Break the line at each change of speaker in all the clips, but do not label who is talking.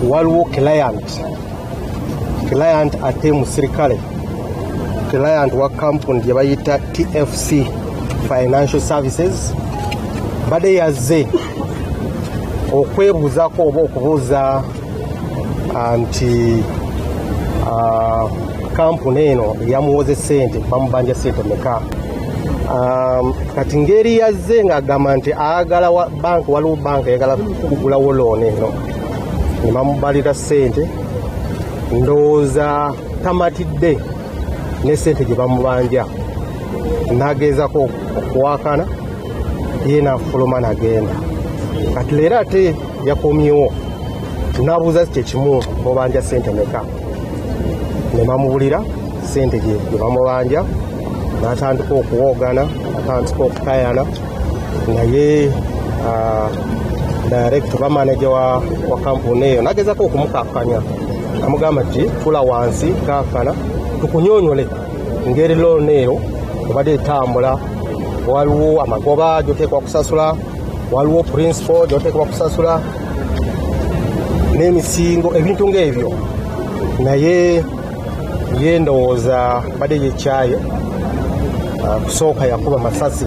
waliwo client client ate musirikale client wa kampuni gye bayita tfc financial services mbadde yazze okwebuuzako oba okubuuza anti ah, kampuni eno eyamuwoze sente bamubanja sente meka um, kati ngeri yazze ngaagamba nti ayagala banka waliwo banka eyagala kugulawo looni eno nebamubalira sente ndowooza tamatidde ne sente gye bamubanja nageezako okuwakana ye nafuluma nagenda kati leero ate yakomyewo nabuuza kyekimu mubanja sente meka nemamubulira sente gyebamubanja natandika okuwogana atandika okukayana naye ah, direct oba manaja wa kampuni eyo nagezako okumukakanya amugamba ti fula wansi kakana tukunyonyole ngeri loona eyo obadde etambula waliwo amagoba gyoteekwa kusasula waliwo principal gyoteekebwa kusasula n'emisingo ebintu ng'ebyo naye ye ndowooza badde yekyayo ah, kusooka yakuba masasi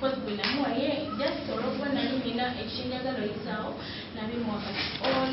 Kozi gwe namuwa ye just olwokuba nali nina ekinjagala oyisaawo nabimuwa kati all